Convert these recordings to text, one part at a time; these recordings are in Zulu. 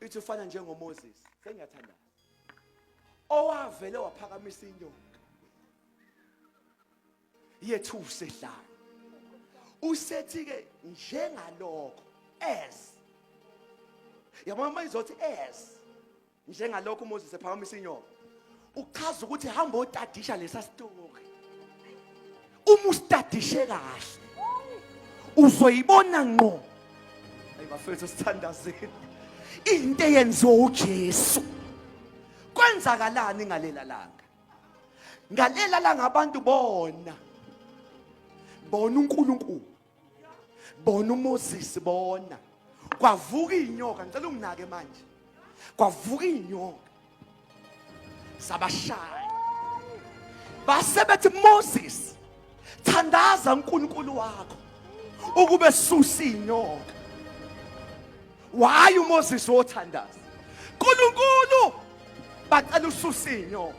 ithi ufana njengoMoses sengiyathanda owavele waphakamisa inyoka yethu usehlala usethi ke njengalokho as yabona mayizothi as njengalokho uMoses ephakamisa inyoka uchaza ukuthi hamba otadisha lesa story uma usitadishe kahle uzoyibona ngqo ayi bafethu sithandazeni into eyenziwa uJesu kwenzakalani ngalela langa ngalela langa abantu bona bona uNkulunkulu bona uMoses bona kwavuka inyoka ngicela unginake manje kwavuka inyoka sabashaya base bethi Moses thandaza uNkulunkulu wakho ukube susa inyoka waye uMoses wothandaza uNkulunkulu bacela ususa inyoka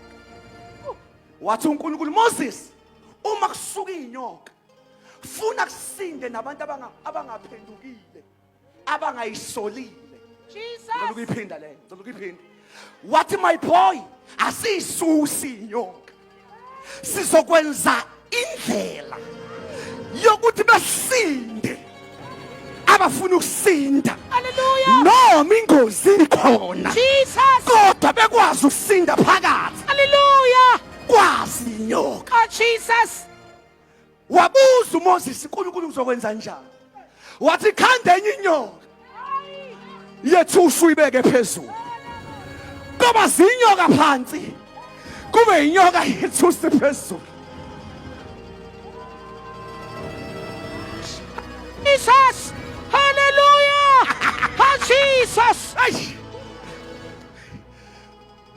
wathi uNkulunkulu Moses uma kusuka inyoka funa kusinde nabantu abangaphendukile abangayisolile ngicela ukuyiphinda le ngicela ukuyiphinda wathi my boy asiyisusi inyoka sizokwenza indlela yokuthi besinde abafuna ukusinda noma ingozi ikhona kodwa bekwazi ukusinda phakathi haleluya kwazi inyoka oh jesus wabuza uMoses uNkulunkulu uzokwenza njani wathi khanda enye inyoka yethu usuyibeke phezulu kuba zinyoka phansi kube inyoka yethu usiphezulu Jesus hallelujah ha Jesus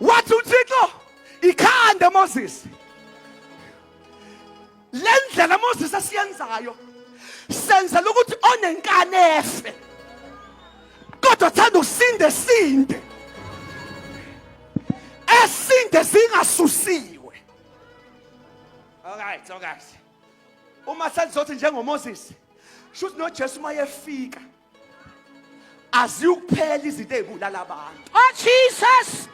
wathi uThixo ikhanda Moses le ndlela moses asiyenzayo senzela ukuthi onenkani efe kodwa thanda usinde sinde esinde singasusiwe alright alright uma selizothi njengomoses shuthi nojesu uma yefika aziyukuphela izinto ezibulala abantu oh jesus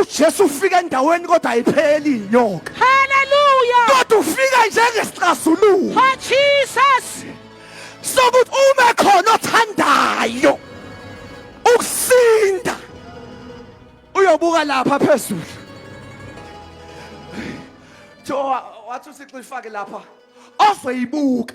ujesu ufika endaweni kodwa ayipheli inyoka haleluya kodwa ufika njengesixazululo oh jesus sokuthi uma khona othandayo ukusinda uyobuka lapha phezulu thowa wathi usixifake lapha ozoyibuka